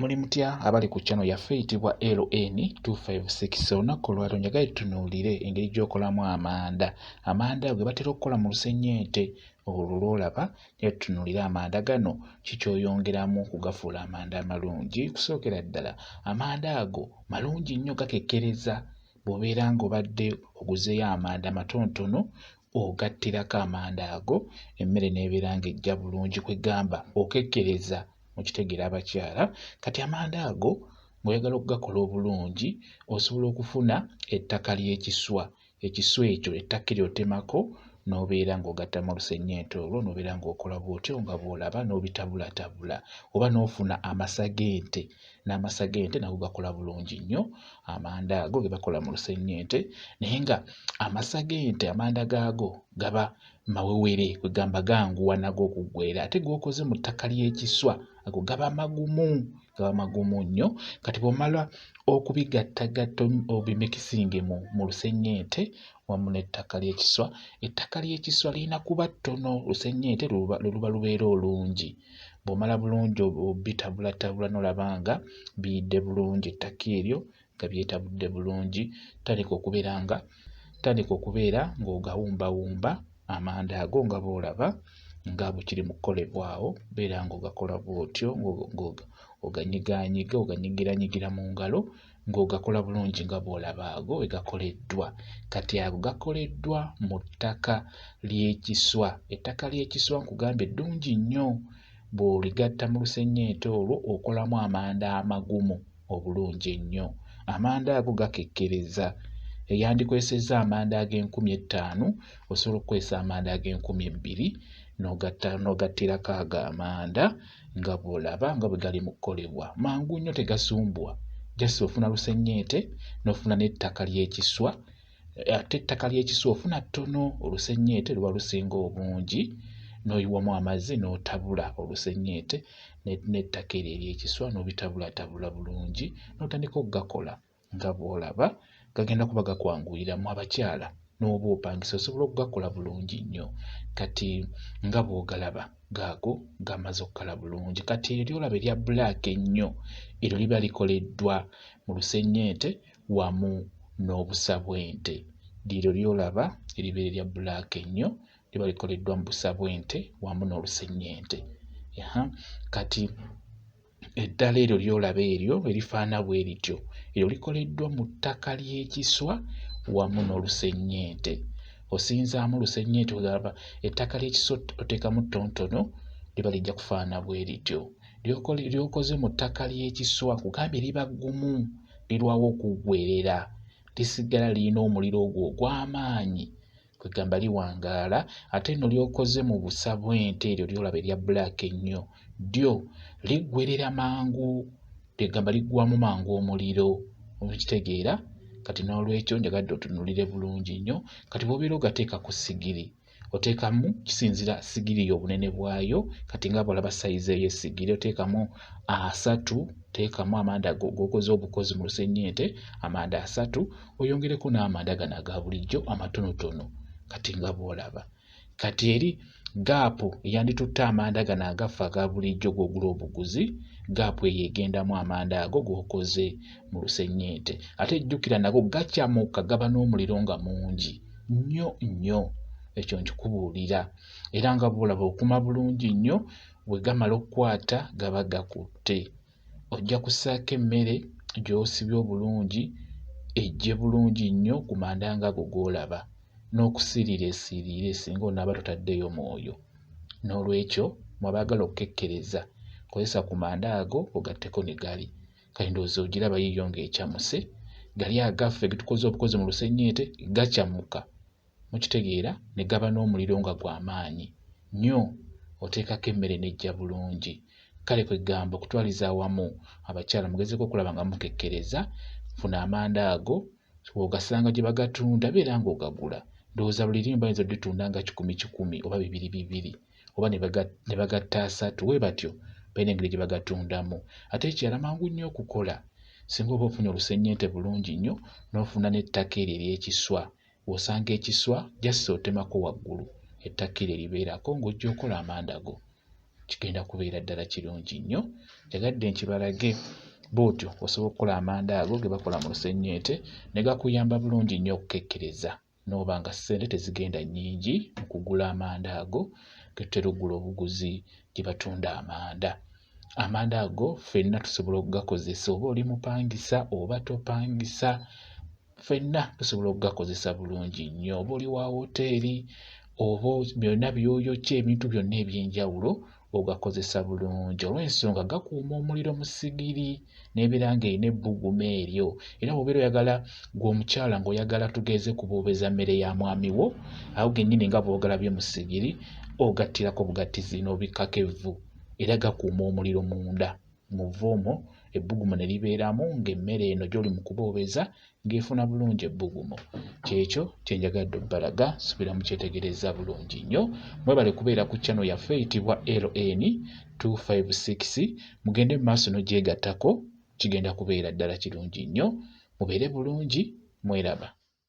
Muli mutya abali ku channel yaffe eyitibwa LN256 olunaku olwaliro njagala tutunuulire engeri gy'okolamu amanda amanda gwe batera okukola mu lusennyente olwo lw'olaba naye tutunuulire amanda gano ki ky'oyongeramu okugafuula amanda amalungi kusookera ddala amanda ago malungi nnyo gakekkereza bw'obeera ng'obadde oguzeeyo amanda matonotono ogattirako amanda ago emmere n'ebeera ng'ejja bulungi kwe gamba okekkereza mu kitegeera abakyala kati amanda ago ng'oyagala okugakola obulungi osobola okufuna ettaka ly'ekiswa ekiswa ekyo ettaka eryo otemako n'obeera ng'ogattamu olusennyente olwo n'obeera ng'okola bw'otyo nga bw'olaba n'obitabulatabula oba n'ofuna amasa g'ente n'amasa g'ente nago gakola bulungi nnyo amanda ago ge bakola mu lusennyente naye nga amasa g'ente amanda gaago gaba mawewere kwegamba ganguwa nago okuggwera ate g'okoze mu ttaka ly'ekiswa ago gaba magumu gaba magumu nnyo kati bw'omala okubigattagatta obimikisinge mu lusennyente wamu n'ettaka ly'ekiswa. Ettaka ly'ekiswa lirina kuba ttono lusennyente lwe luba lubeera olungi. Bw'omala bulungi obitabulatabula n'olaba nga biyidde bulungi ettaka eryo nga byetabudde bulungi, tandika okubeera nga tandika okubeera ng'ogawumbawumba amanda ago nga bw'olaba nga bwe kiri mu kukolebwa awo, beera ng'ogakola bw'otyo ng'oganyigaanyiga oganyigiranyigiramu ngalo ng'ogakola bulungi nga bw'olaba ago bwe gakoleddwa. Kati ago gakoleddwa mu ttaka ly'ekiswa. Ettaka ly'ekiswa nkugambye ddungi nnyo, bw'oligatta mu lusennyente olwo okolamu amanda amagumu obulungi ennyo. Amanda ago gakekkereza. Yandikozesezza amanda ag'enkumi ettaano, osobola okukozesa amanda ag'enkumi ebbiri n'ogatta n'ogattirako ago amanda nga bw'olaba nga bwe gali mu kukolebwa mangu nnyo tegasumbuwa just ofuna lusennyente n'ofuna n'ettaka ly'ekiswa ate ettaka ly'ekiswa ofuna ttono olusennyente luba lusinga obungi n'oyiwamu amazzi n'otabula olusennyente n'ettaka eryo ery'ekiswa n'obitabulatabula bulungi n'otandika okugakola. nga bw'olaba gagenda kuba gakwanguyira mu abakyala n'oba opangisa osobola okugakola bulungi nnyo kati nga bw'ogalaba gaago gamaze okukala bulungi kati eryo ly'olaba erya bbulaaka ennyo eryo liba likoleddwa mu lusennyente wamu n'obusa bw'ente liryo ly'olaba eribeera erya bbulaaka ennyo liba likoleddwa mu busa bw'ente wamu n'olusennyente kati eddala eryo ly'olaba eryo erifaana bwe lityo eryo likoleddwa mu ttaka ly'ekiswa wamu n'olusennyente osinzaamu lusennyente olaba ettaka ly'ekiswa oteekamu ttontono liba lijja kufaana bwe lityo ly'okoze mu ttaka ly'ekiswa kugambye liba ggumu lirwawo okuggwerera lisigala lirina omuliro ogwo ogw'amaanyi kwegamba liwangaala ate no lyokoze mu busa bw'ente eryo lyolaba erya black ennyo ddyo liggwerera mangu kwegamba liggwamu mangu omuliro okitegeera kati n'olwekyo njagadde otunulire bulungi nnyo kati bwobeera ogateeka ku sigiri oteekamu kisinzira sigiri y'obunene bwayo kati nga bwolaba sayizi eyo esigiri oteekamu asatu teekamu amanda gokoze obukozi mu lusennyente amanda asatu oyongereko n'amanda gano aga bulijjo amatonotono kati nga bw'olaba kati eri gaapu eyanditutte amanda gano agaffe aga bulijjo gw'ogula obuguzi gaapu eyo egendamu amanda ago g'okoze mu lusennyente ate jjukira nago gacamuka gaba n'omuliro nga mungi nnyo nnyo ekyo nkikubuulira era nga bw'olaba okuma bulungi nnyo bwe gamala okukwata gaba gakutte Ojja kussaako emmere gy'osibye obulungi eggye bulungi nnyo ku manda ng'ago g'olaba n'okusiriira esiriire singa onaaba totaddeeyo mwoyo. N'olwekyo mu abaagala okukekkereza kozesa ku manda ago ogatteko ne gali. Kati ndowooza ogiraba yiyo ng'ecamuse. Gali agaffe ge tukoze obukozi mu lusennyente gacamuka. mukitegeera ne gaba n'omuliro nga gwa maanyi nnyo oteekako emmere n'ejja bulungi kale kwe ggamba okutwaliza awamu abakyala mugezeeko okulaba nga mukekkereza funa amanda ago ogasanga gye bagatunda beera ng'ogagula ndowooza buli limu bayinza oditunda nga kikumi kikumi oba bibiri bibiri oba ne bagatta asatu we batyo balina engeri gye bagatundamu ate ekirala mangu nnyo okukola singa oba ofunye olusennyente bulungi nnyo n'ofuna n'ettaka eryo ery'ekiswa W'osanga ekiswa just otemako waggulu ettakira eribeerako ng'ojja okola amanda go. Kigenda kubeera ddala kirungi nnyo. Njagadde nkibalage bw'otyo osobola okukola amanda ago ge bakola mu lusennyente ne gakuyamba bulungi nnyo okukekkereza n'oba nga ssente tezigenda nnyingi mu kugula amanda ago ge tutera okugula obuguzi gye batunda amanda. Amanda ago ffenna tusobola okugakozesa oba oli mupangisa oba topangisa. ffenna tusobola okugakozesa bulungi nnyo oba oli wa wooteeri oba byonna byoyokya ebintu byonna eby'enjawulo ogakozesa bulungi olw'ensonga gakuuma omuliro mu sigiri n'ebeera ng'erina ebbugumu eryo era bw'obeera oyagala gwe omukyala ng'oyagala tugeeze kubuubeza mmere ya mwami wo awo gennyini nga bwogalabye mu sigiri ogattirako bugattizi n'obikkako evvu era gakuuma omuliro munda mu vvuumu, ebbugumu ne libeeramu ng'emmere eno gy'oli mu kuboobeza ng'efuna bulungi ebbugumu. Ky'ekyo kye njagadde okubalaga, subira mukyetegerezza bulungi nnyo. Mwebale kubeera ku channel yaffe eyitibwa LN 256 mugende mu maaso n'ogyegattako kigenda kubeera ddala kirungi nnyo. Mubeere bulungi, mweraba.